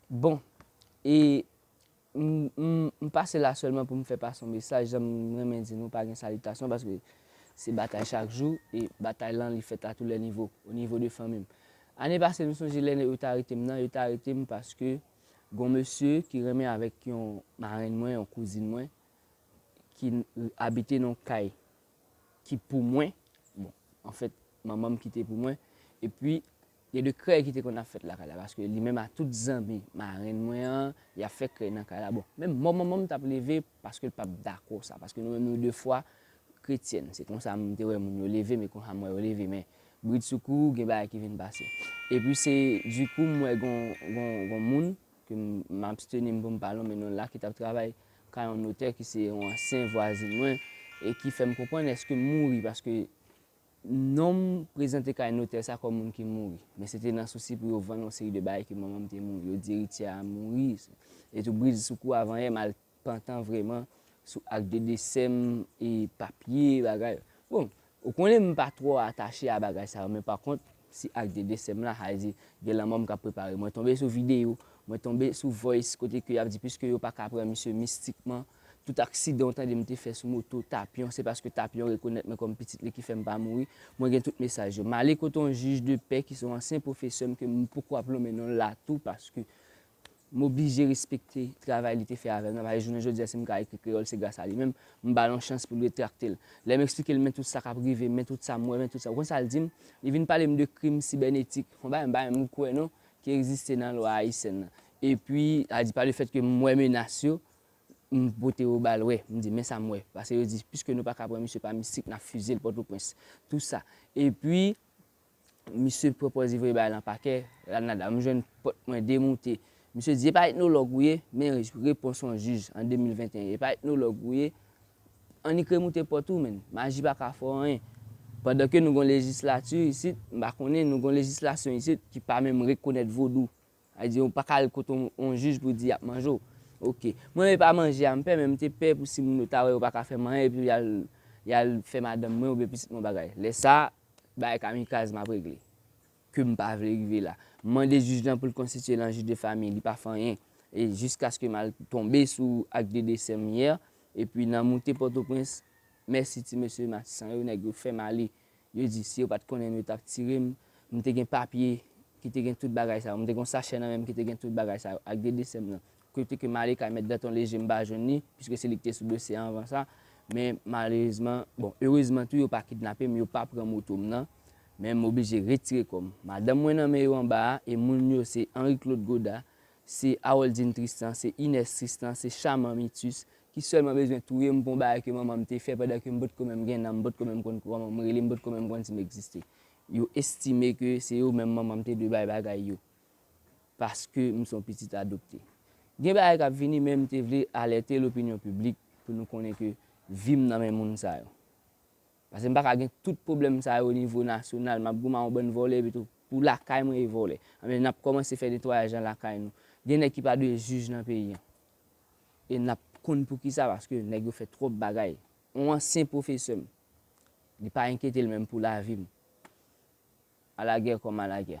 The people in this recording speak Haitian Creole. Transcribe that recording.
Bon e m pase la selman pou m fè pase yon mesaj jan m renmen di nou pa gen salitasyon paske se batay chak jou e batay lan li fèt a tou lè nivo o nivo de fanmi m ane pase m sonje lè yo te arete m nan yo te arete m paske gon mesye ki renmen avèk yon marenn mwen yon kouzin mwen ki abite nan yon kay ki pou mwen bon anfèt manman m ki te pou mwen epi Gen de krèy ki te konn ap fèt lakay la paske li menm a tout zanmi marenn mwen an y ap fè krèy nan kay la bon menm mò manman m t ap leve paske l p ap dakò sa paske nou menm nou de fwa kretyèn se konsa m te wè moun yo leve m e konsa m wè yo leve men bridsoukou gen bagay ki vin pase epi se dikou m wè gon gon gon moun ke m absteni m pou m pa lonmen non l la ki t ap travay kay yon notè ki se yon ansyen vwazin mwen e ki fè m konprann èske m mouri paske Non m prezante kay notè sa kòm moun ki mouri. Men se te nan sousi pou yo vann yon seri de bagay ke manman m te mouri. Yo di erityè a mouri. E tou brizsoukou avanyè m al pantan vreman sou ak de desè m e papye bagay. Bon, ou konnen m pa twò atache a bagay sa yo men pa kont si ak de desè m la sa vle di gen lanmò m k ap prepare. Mwen tonbe sou videyo, mwen tonbe sou voice kote ke y ap di piske yo pa ka pran misye mistikman Tout aksidan ou tande m te fè sou moto Tapyon, se paske Tapyon rekonèt mwen kòm pitit li ki fè m pa mouri. Mwen gen tout mesaj yo. M ale kote yon jij de pè ki se yon ansyen pwofesè m ke m poko ap lonmen non l la tou paske m oblije respekte travay li te fè avè m nan paske jounen jodi a si m ka ekri kreyòl se gras a li menm. M ba l yon chans pou l retrakte l. Lè m esplike l men tout sa k ap rive m, men tout sa m wè, men tout sa, ou konn sa l di m? Li vin pale m de krim sibènetik, yon bagay m pa menm kwè non, ki egziste nan lwa ayisyèn nan. Epi, sa vle di pa le fèt ke m wè menas yo, M pote yo ba l wè, m di men sa m wè. Pase yo di piske nou pa ka pran misye pa mistik n ap fize l Pòtoprens. Tou sa. Epi, misye pran pòz ivre ba l an pakè, Ranada. M jwenn pòt mwen demoute. Misye di e pa etnològ ou ye? Men repons yon jij an 2021. E pa etnològ ou ye? Annik remoute pòt ou menn. Maji pa ka fè w anyen. Pandan ke nou gen yon lejislati isit, m pa konnen, nou gen yon lejislasyon isit ki pa menm rekonèt vodou. Sa vle di ou pa ka al kote yon jij pou di y ap manje w. Ok. Mwen menm e pa manje a m pè men m te pè pou si moun yo ta wè yo pa ka fè m anyen epi y al y al fè madanm mwen oubyen pitit mwen yon bagay. Lè sa a, bagay kamikaz m ap regle ke m pa vle rive la. M mande jij lan pou l konstitiye l an jij de famiy, li pa fè anyen. E jiskaske m al tonbe sou ak de desè m yè epi nan moute Pòtoprens, mèsi ti mesye Matisan yo, nèg yo fè m ale. Yo di, si yo pa t konnen m, yo t ap tire m. M te gen papye ki te gen tout bagay sa yo. M te gen yon sachè nan men m ki te gen tout bagay sa yo, ak de desè m nan. Kote ke m ale kay Mèt Danton Léger, m pa jwenn li, piske se li ki te sou dosye a anvan sa. Men, malerezman, bon, erezman tou, yo pa kidnape m, yo pa pran moto m nan. Men, m oblije retire kò m. Madanm mwen nan men yo anba a, e moun yo se Henri Claude Godard, Se Aroldine Tristan, se Inès Tristan, se Chaman Mitus ki sèlman bezwen touye m pou yon bagay ke manman m te fè pandan ke m potko menm gen nanm, m potko menm konn kòman m rele, m potko menm konn si m egziste. Yo estime ke se yo menm manman m te dwe bay bagay yo paske m se yon pitit adopte. Gen bagay k ap vini men m te vle alète lopinyon piblik pou nou konnen ke vi m nan men moun sa yo. Pase m paka gen tout pwoblèm sa yo nivo nasyonal, map goumen a yon bann vòlè epi tou pou lakay mwen e vòlè. Anben nap kòmanse fè netwayaj nan lakay nou. Gen nèg ki pa dwe jij nan peyi an. E nap konn poukisa paske nèg yo fè twòp bagay. Yon ansyen pwofesè m, li pa enkyete l menm pou lavi m. Alagè kòm alagè.